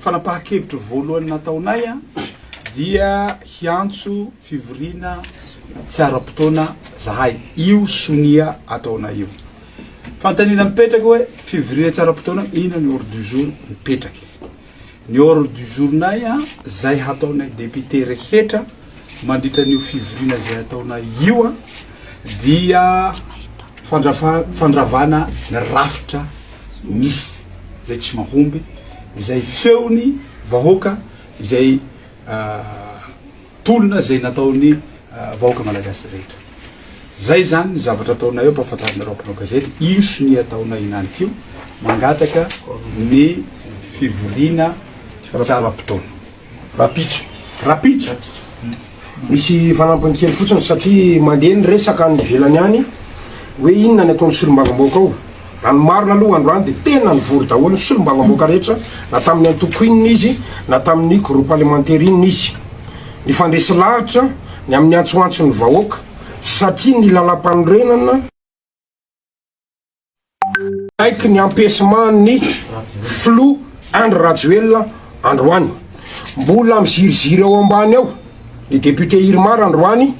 Fanapahan-kevitra voalohany nataonay dia hiantso fivoriana tsy ara-potoana zahay. Io sonia ataonay io. Fanontaniana mipetraka hoe fivoriana tsy ara-potoana inona ny ordre du jour mipetraka. Ny ordre du jour-nay a, izay hataonay député rehetra mandritra an'io fivoriana izay ataonay io a, dia fandrafa- fandravana ny rafitra misy, izay tsy mahomby, izay feon'ny vahoaka, izay ah, Tolona izay nataon'ny vahoaka malagasy rehetra. Zay zany ny zavatra ataonay eo ampahafantarinareo mpanao gazety io sonia ataonay inaniko io mangataka ny fivoriana tsara potoana. Rapitso. Rapitso. Misy fanampiny kely fotsiny satria mandeha ny resaka any ivelany any hoe inona ny ataon'ny solombavambahoaka ao Raha ny marina aloha androany dia tena nivory daholo ny solombavamboaka rehetra na tamin'ny antoko inona izy na tamin'ny groupe alimentaire inona izy. Nifandresy lahatra ny amin'ny antsoantson'ny vahoaka satria ny lalampanorenana. Niaiky ny empechement ny Filoha Andry Rajoelina androany. Mbola miziriziry ao ambany ao. ny député Irmar androany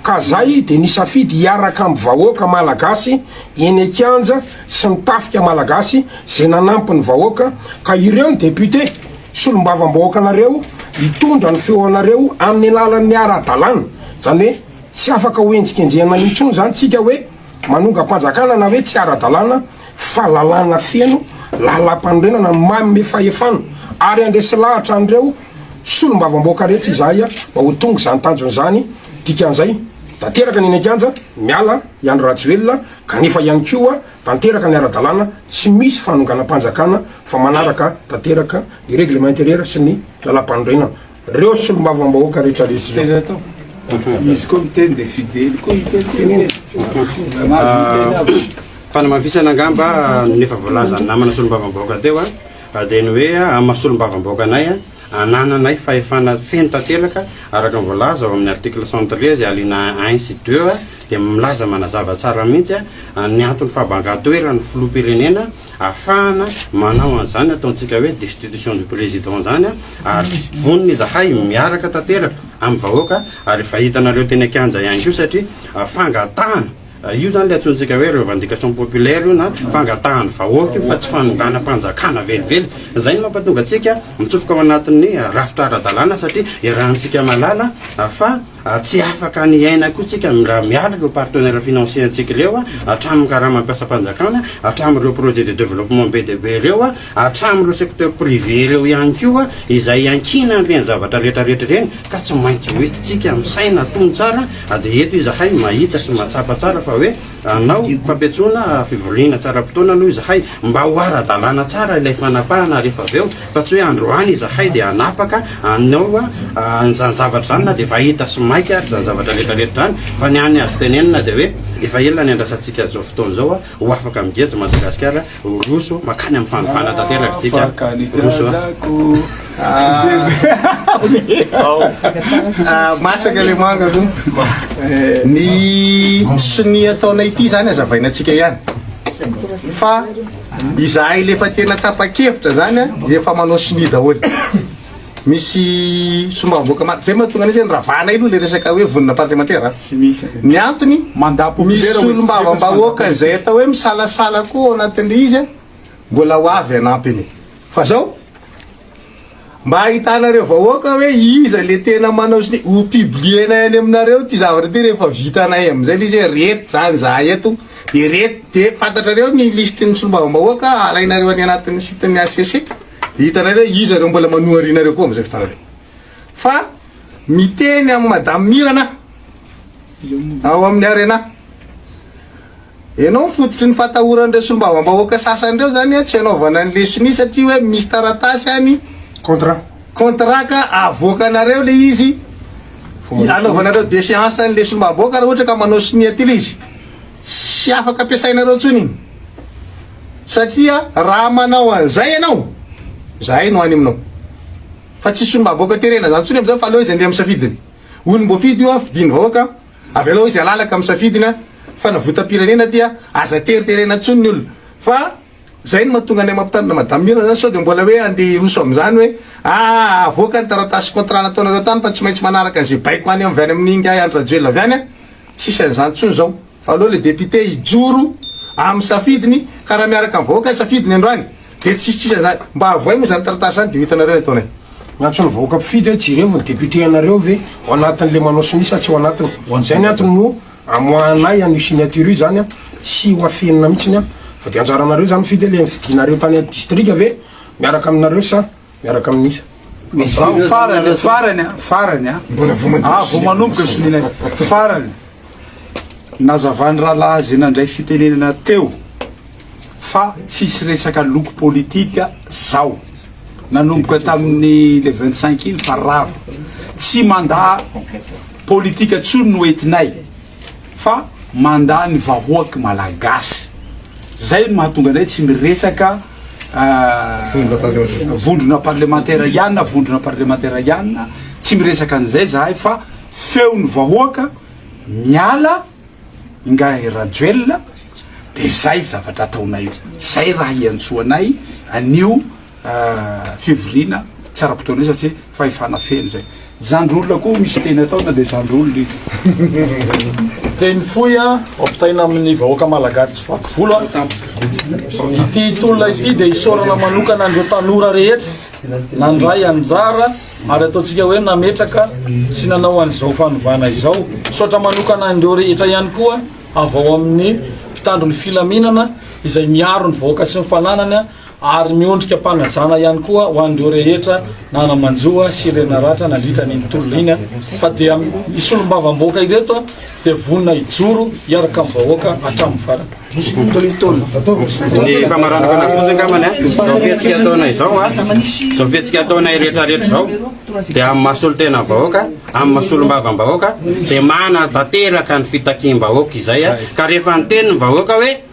ka zay de nisafidy hiaraka am vahoaka malagasy eny an-kianja sy ny tafika malagasy ze nanampy ny vahoaka ka ireo ny député solombavambahoaka anareo hitondra ny feo anareo aminy alalan ny ara dalàna zany hoe tsy afaka ho enjikenjehina intsony zany tsika hoe manongam-panjakana na hoe tsy ara dalàna fa lalàna feno lalampanorenana manome fahefana ary handresy lahatra an'ireo solombavamboaka rehetra izahay mba ho tonga izany tanjona izany, dikan'izay tanteraka ny eny an-kianja miala i Andry Rajoelina kanefa ihany koa tanteraka ny ara-dalàna tsy misy fanonganam-panjakana fa manaraka tanteraka ny règlement intérieur sy ny lalampanorenana. Reo solombavamb ahoaka rehetra resy zao izy koa miteny de fidely koa hiteny teneny fanamafisana angamba ny efa voalazan'ny namana solombavambahoaka teo a dia ny hoe amin'ny maha solombavambahoaka anay a anananay fahefana feno tanteraka araka ny voalaza ao amin'ny article 113 alina 1 sy 2 dia milaza manazava tsara mihitsy a ny antony fahabangan-toeran'ny filoham-pirenena Afahana manao an'izany ataontsika hoe destitution du président izany ary vonona izahay miaraka tanteraka amin'ny vahoaka ary efa hitanareo teny an-kianja ihany koa satria fangatahana io izany ilay antsointsika hoe revendication populaire io na fangatahan'ny vahoaka io fa tsy fanonganam-panjakana velively. Izay no mampatonga antsika mitsofoka ao anatin'ny rafitra ara-dalàna satria iarahantsika mahalala fa A Tsy afaka ny hiaina koa tsika raha miala ireo partenaires financiers ntsika ireo, hatramin'ny karamam-piasam-panjakana, hatramin'ireo projets de développement be dia be ireo, hatramin'ireo secteur privé ireo ihany koa izay iankiana an'ireny zavatra rehetra rehetra ireny ka tsy maintsy ho entintsika misaina tony tsara dia eto izahay mahita sy mahatsapa tsara fa hoe Hanao fampiantsoana fivoriana tsaram-potoana aloha izahay mba ho ara-dalàna tsara ilay fanapahana rehefa avy eo fa tsy hoe androany izahay dia hanapaka anao an'izany zavatra izany na dia efa hita sy maika ary izany zavatra rehetrarehetra izany fa ny hany azo tenenina dia hoe efa ela niandrasantsika an'izao fotoana izao ho afaka migeja Madagasikara Roso makany amin'ny fanovana tanteraka ity ka. Roso. Masaka le manga aloha. Ny sonia ataonay ity zany azavaina antsika ihany. Fa izahay le efa tena tapa-kevitra zany efa manao sonia daholo. misy sombavoaka ma zay mahatonga an'izy ny ravana ilo le resaka hoe vonina parlemantera ny antony misy solombavambahoaka izay atao hoe misalasala koa ao anatin'le izy a mbola ho avy anampiny fa zao mba ahitanareo vahoaka hoe iza le tena manao sny ho publienay any aminareo ty zavatra ty rehefa vitanay am'izay le izy hoe reto zany za eto de reto de fantatrareo ny listin'ny solombavambahoaka alainareo any anatin'ny sitin'ny hcc Dia hitanay hoe iza ireo mbola manohariana ireo koa amin'izay fotoana izay. Fa miteny amin'i Madame Mirana ao amin'ny Arena. Ianao ny fototry ny fatahoran'ireo solombavambahoaka sasany ireo izany hoe tsy hanaovana ny leson'io satria hoe misy taratasy any, Contrat. contrat ka avoakanareo ilay izy, anaovanareo deseance an'ilay solombavambahoaka raha ohatra ka manao sonia ity ilay izy. Tsy afaka ampiasainareo intsony iny satria raha manao an'izay ianao zahay no any aminao fa tsisy solombavambahoaka terena zany intsony amizao fa aleo izy andeha amin'ny safidiny olomboafidy io an fidin'ny vahoaka avelao izy alalaka amin'ny safidiny an fanavotam-pirenena ty an aza teriterena intsony ny olona fa Zay no mahatonga anay mampitandrina madame Mira zany sao dia mbola hoe andeha hiroso amin'izany hoe aah avoaka ny taratasy contrat nataonareo tany fa tsy maintsy manaraka an'izay baiko any avy any amin'ny ingahy Andry Rajoelina avy any an! tsisy an'izany tsony zao fa aleo le député hijoro amin'ny safidiny ka raha miaraka amin'ny vahoaka ny safidiny androany dia tsisy tsisy an'izany mba avoay moa izany taratasy izany dia ho hitanareo ny ataonay. Miantso ny vahoaka mpifidy hoe jereo ny député anareo ve ao anatin'le manao sinisy sa tsy ao anatiny? Zay ny antony no. Amoahanay an'io signature io zany an, tsy ho afenina mihitsiny an, fa dia anjaranareo zany mifidy hoe le nifidinareo tany an distrika ve miaraka aminareo sa miaraka amin'iza? Izaho farany, farany an, farany an, ah vao manomboka ny sonia nay, farany, nazavan'ny rahalahy izay nandray fitenenana teo, fa tsisy resaka loko politika zao nanomboka tamin'ny le 25 iny fa rava tsy manda politika tsony no etinay fa manda ny vahoaky malagasy zay no mahatonga anay tsy miresaka euh, vondrona parlemantera ihany na vondrona parlemantera ihany tsy miresaka an'izay zahay fa feo ny vahoaka miala Ingahy Rajoelina dia zay zavatra ataonay zay raha hiantsoanay anio fivoriana tsy ara-potoana io satria fahefana feno zay. Zandry olona koa misy teny atao na dia zandry olona izy. Teny fohy an, ampitaina amin'ny vahoaka malagasy tsy vaky volo an. Ity tolona ity dia isaorana manokana an'ireo tanora rehetra nandray anjara ary ataontsika hoe nametraka sy nanao an'izao fanovana izao. Misaotra manokana an'ireo rehetra ihany koa avy ao amin'ny mpitandro ny filaminana izay miaro ny vahoaka sy ny fananany ary miondrika am-panajana ihany koa ho an'ireo rehetra nanamanjoa sy renaratra nandritra an'iny tolona iny fa dia ny solombavamboaka ireto dia vonona hijoro hiaraka amin'ny vahoaka hatramin'ny farany. Ny famaran'ny fanafody angambany an, izao fihetsika ataonay izao an, izao fihetsika ataonay rehetrarehetra izao dia amin'ny mahasolon-tenan'ny vahoaka, amin'ny mahasolom-bavan'ny vahoaka dia manatanteraka ny fitakiam-bahoaka izay an, ka rehefa niteny ny vahoaka hoe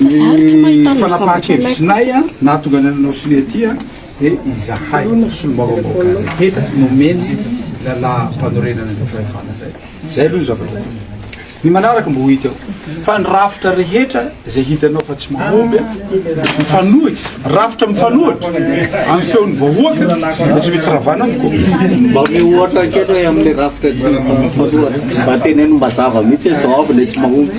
Ny fanapahan-kevitrinay nahatonga anay nanao sonia ity dia izahay solombavambahoaka rehetra nomeny lalàm-panorenana izay fahefana izay. Izay aloha ny zavatra voalohany. Ny manaraka mba ho hita eo fa ny rafitra rehetra izay hitanao fa tsy mahomby, mifanohitra, rafitra mifanohitra amin'ny feon'ny vahoaka dia tsy maintsy ravana avokoa. Mba omeo ohatra kely hoe amin'ny rafitra tsy mifanohitra, mba teneno mba zava mihitsy hoe izao avy ilay tsy mahomby.